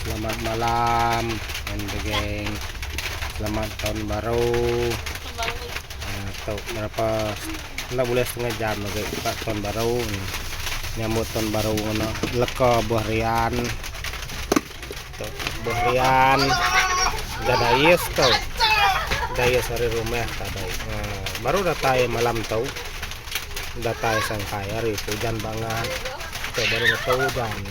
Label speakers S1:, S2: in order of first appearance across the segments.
S1: Selamat malam and the gang selamat tahun baru tu berapa enda bulih setengah jam lagi buka tahun baru nyambut tahun baru ngena leka buah rian tu buah rian dah dais tu dais ari rumah tadi ha, baru datai malam tu datai sangkai hari tu ujan bangat tu baru metu ujan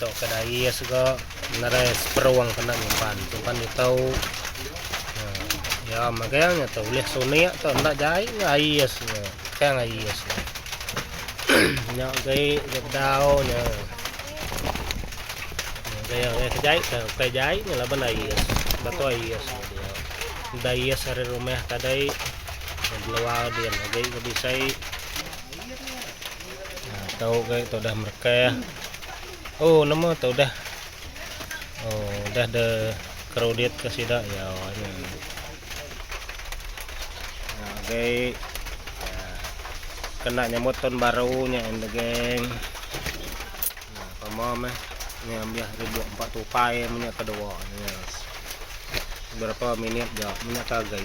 S1: Tau ke dai iya sega menarai seperuang kena nyimpan simpan di tau. Ya magang nya tu ulih sunik tu enda jai nya ai iya sega. Kang ai iya sega. Nya gai nya bedau nya. Nya gai ke jai ke ke jai nya laban ai iya. Batu ai iya sega dia. Dai iya sari rumah tadai. Beluar dia gai ke bisai. Tau gai tu dah merekah. Oh nama tu dah. Oh dah de crowded ke sida ya. Gai kena nyambut tahun baru nya in the gang. Pama meh ni ambil ribu empat tupai punya kedua. Berapa minit je minyak gai.